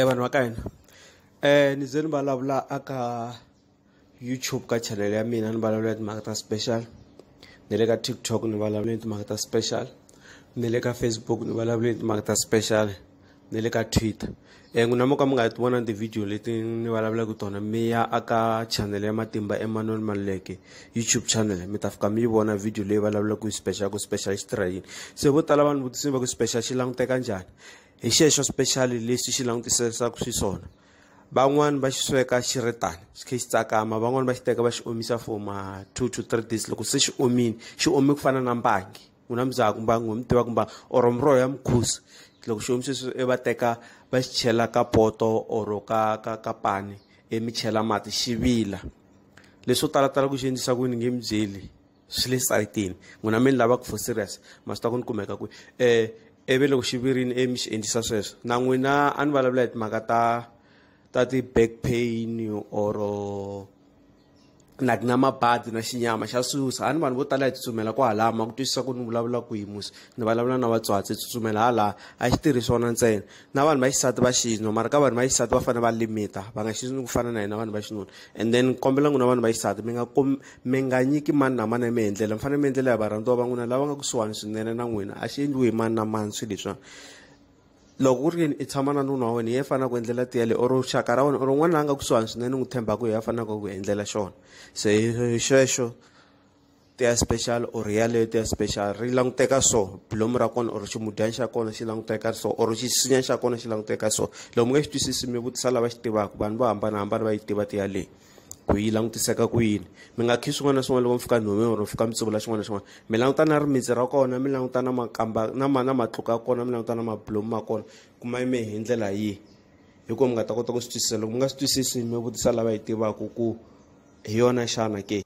vanhu va ka hina um ni ze ni vulavula a ka youtube ka channel ya mina ni vulavula ya timhaka ta special ni le ka tiktok ni vulavula ya timhaka ta special ni le ka facebook ni vulavula ya timhaka ta special ni le ka twitter um n'wina mo ka mi nga ti vona tivhidiyo leti ni vulavulaka tona mi ya aka channel ya matimba emmanuel maluleke youtube channel mi ta fika mi yi vona vhidiyo leyi vulavulaka hi special ku special xi tirha yini se vo tala vanhu vutisini va ku special xi languteka njhani hi xexo special lexi xi langutiserisaku xiswona van'wani va xi sweka xi ri tani xi khe xi tsakama van'wani va xi teka va xi omisa for ma two to three days loko se xi omile xi ome ku fana na mbangi ku na muzaka mbangi wa mi tiva ku mbangi or muroho ya mukhusi loko xi omise swi e va teka va xi chela ka poto or ka ka ka pani e mi chela mati xi vila leswo talatala ku xi endlisa ku ni nge mi byeli swi le sayitini n'wina mi ni lavaka for serious ma swi ta ku ni kumeka kwi um ivi loko xi virini e mi xi endlisa sweswo na n'wina a ni vulavula hi timhaka ta ta ti-back pain or like na mabadi na xinyama xa susa a ni vanhu vo tala hi tsutsumela ku halaya ma ku twisisa ku ni vulavula ku hi musi ni vulavula na vatswatsi tsutsumela halaya a xi tirhi swona ntsena na vanhu va xisati va xinwa mara ka vanhu va xisati va fanele va limita va nga xisini ku fana na hina vanhu va xinuna and then kombela n'wina vanhu va xisati mi nga mi nga nyiki mani na mani mi endlela mi fanele mi endlela ya varhandziwa va n'wina lava nga kusuhani swinene na n'wina a xi endliwi hi mani na mani swi leswiwani loko ku ri yini i tshama na nuna wa wena hi ye fanaka ku endlela tiya leyi or xaka ra wena or un'wana la nga kusuhani swinene n'wi tshembaka hi ye a fanaka ku endlela xona se xexo ti ya special or yaleyo ti ya special ri languteka so bilomu ra kona or ximudyani xa kona xi languteka so or xisinya xa kona xi languteka so loko mi nga xi twisisi mi vutisa lava xi tivaka vanhu vo hambanahambana va yi tiva ti yaleyi ku yi langutiseka ku yini mi nga khi swin'wana na swin'wana loko mi fika nhumi or mi fika mi tsuvula xin'wana na xin'wana mi languta na rimitsi ra kona mi languta na makamba na ma na matluka ya kona mi languta na mabulomu ma kona kuma yime hi ndlela yihi hikuva mi nga ta kota ku swi twisisa loko mi nga swi twisisi mi vutisa lava yi tivaka ku hi yona xana ke